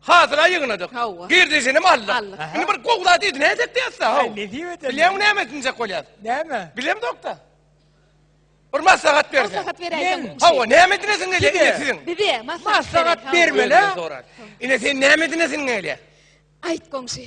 Hasyla ýygnadyk. Hawa. Girdejinem aldyk. Aldyk. Indi bir gowy zat edin nädip diýäs-dä, haw. Aý, nesip eder. Bilýäňmi näme edinjek bolýas? Näme? Bilemzok-da. Bir maslahat berseň. Maslahat beräýseň. Men? Hawa, näme edinesiň gelýär Kime? ine siziň? Bize maslahat. Maslahat beriň, hawa. berme. Özüne Mele? sorar. Ine sen näme edinesiň gelýär? Aýt goňşy.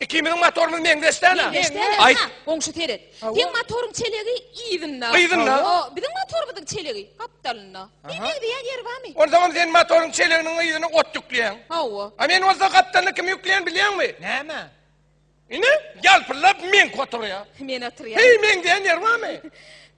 Ikimiziň motorymyz meňzeş däl-ä. Meňzeş däl-ä. Aýt. Ha, goňşy seret. Seň motoryň çelegi yzynda. Yzynda. O, biziň motorymyzyň çelegi gapdalynda. Bir meňzeýän ýeri barmy? Onsoňam sen motoryň çeleginiň yzyna ot ýükleýäň. Hawa. A men bolsa gapdalyna kimi ýükleýän bilýäňmi? Näme? Ine, ýalpyldap meňki oturýar. Men oturýan. Heý, meňzeýän ýeri barmy?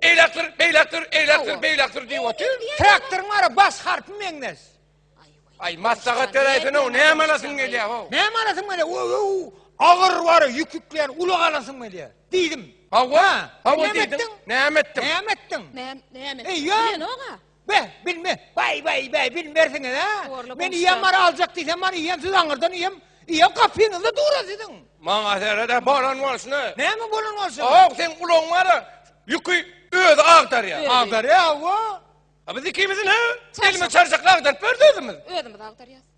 Eýläkdir, beýläkdir, eýläkdir, beýläkdir diýip otyr. Traktoryň bara bas harpy meňnes. Aý, maslahat beräýsene, näme alasyň gelýär ho? Näme alasyň gelýär? Ow, agyr bar, ýükükleýän ulag alasyň gelýär. Diýdim. Hawa, hawa diýdim. Näme etdiň? Näme etdiň? Näme etdiň? Näme etdiň? Eýýäm. Bilen oga. Be, bilme, bay bay bay bilmersiňiz ha. Gorla Men ýa mara aljak diýsem mara ýem siz aňyrdan ýem. Ýa gapyňyzda dura siziň. Maňa serede bolan bolsun. Näme bolan bolsun? Aw sen ulan mara ýüki özi agdarýa. Agdarýa aw. Biz ikimizi ne? Elime çarşak agdaryp berdi özümiz. Özümiz agdarýas.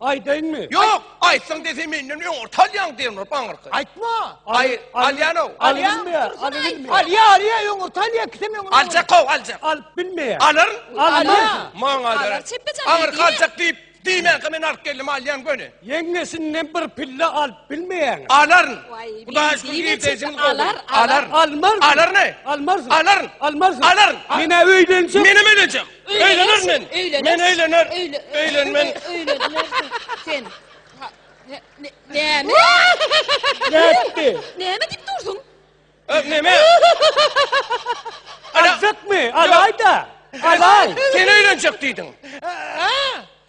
Aýdaýynmy? Ýok, aýtsaň dese menden öň orta alýaň dernop aňyrky. Aýtma. Aý, alýan-ow. Alýanmy? Alýanmy? Alýa, alýa, öň orta alýa, ikisem öňüne. Aljak-ow, aljak. Alyp bilmeýär. Alaryn. Alýa. Maňa Alar, deren. çepbe çapyň Aňyrky diýme. aljak diýip, diýmänkä men alyp geldim, alýan göni. Ýeňňesinden bir pille alyp bilmeýäňmi? Alaryn. Waý, Hudaýa şükür, diýme, girdejiň çepbe, gowy. alar, alar. Alaryn. Almarsyň. Alaryn-aý. Almarsyň. Alaryn. Almarsyň. Alaryn. Men-ä öýlenjek. Menem öýlenjek. Öýlener men. Men öýlener. Öýlenmen. Öýlenersiň sen. Näme? Nätdi? Näme diýip dursuň? Öz näme? Azakmy? Alaýda. Alaý. Sen öýlenjek diýdiň.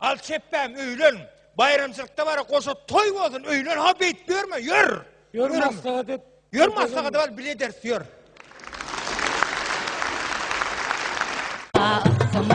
Al çepbäm öýlen. Baýramçylykda bara goşa toý bolsun öýlen ha beýt ýörme ýör. Ýör maslahat et. Ýör maslahat et bile ders ýör.